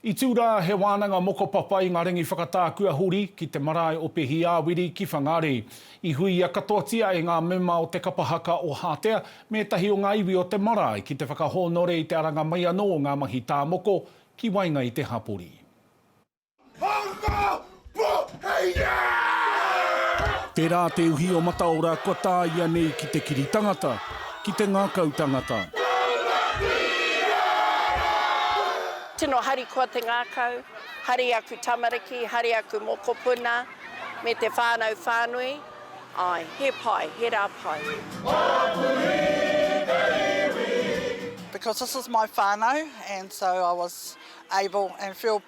I tū rā he wānanga mokopapa i ngā rangi whakatākua huri ki te marae o Pehiāwiri ki Whangārei. I huia katoatia e ngā mema o te kapa haka o Hātea me ētahi o ngā iwi o te marae ki te whakahōnore i te aranga mai anō o ngā mahi tā moko ki waenga i te hapori. Tērā te uhi o Mataora kua tāia nei ki te kiri tangata, ki te ngākau tangata. Tino harikoa te ngākau, hari aku tamariki, hari aku mokopuna, me te whānau whānui, āe, he pai, he rā pai. Because this is my whānau and so I was able and feel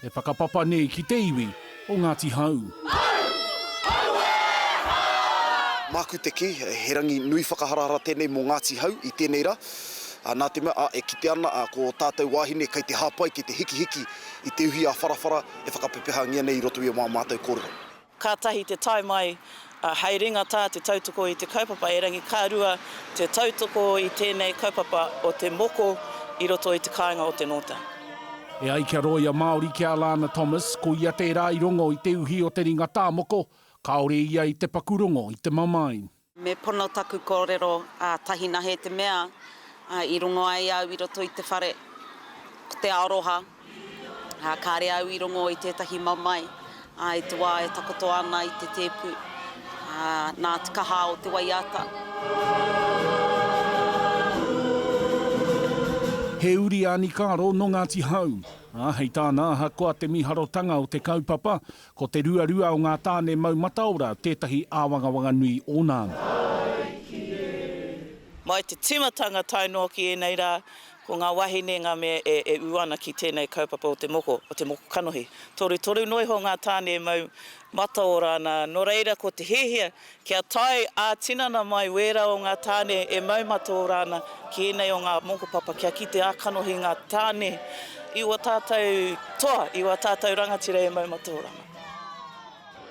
He whakapapa nei ki te iwi o Ngāti Hau. Māku te kī, he rangi nui whakaharahara tēnei mō Ngāti Hau i tēnei rā. Nā te mea, e kite ana ko ō tātou wāhine kei te hāpai, kei te hikihiki i te uhi ā-wharawhara e whakapepehangia nei i roto i ō mātou kōrero. Kātahi te tae mai hei ringa tā te tautoko i te kaupapa erangi, ka rua te tautoko i tēnei kaupapa o te moko i roto i te kāinga o te nōta. E ai kia rōia Māori ki a Lana Thomas, ko ia tērā i rongo i te uhi o te ringa tā moko, kāore ia i te paku rongo i te mamae. Me pono taku kōrero a Tahinahe te mea i rongo ai au i roto i te whare, ko te aroha, ā, kāre au i rongo i tētahi mamae, ā, i te wā e takoto ana i te tēpu, ā, nā te kaha o te waiata. He uri a Nikaro nō Ngāti Hau, ā, hei tāna ahakoa te miharotanga o te kaupapa, Ko te ruarua o ngā tāne mau mataora tētahi āwangawanga nui ōna anō. Mai te tīmatanga tae noa ki ēnei rā, ko ngā wāhine ngā mea e ū ana ki tēnei kaupapa o te moko, o te moko kanohi. Torutoru noa iho ngā tāne e mau mataora ana, nō reira ko te hiahia Kia tae ā-tinana mai wērā o ngā tāne e mau mataora ana ki ēnei o ngā mokopapa kia kite ā-kanohi ngā tāne i ua tātou toa, i ua tātou rangatira e mau mataora ana.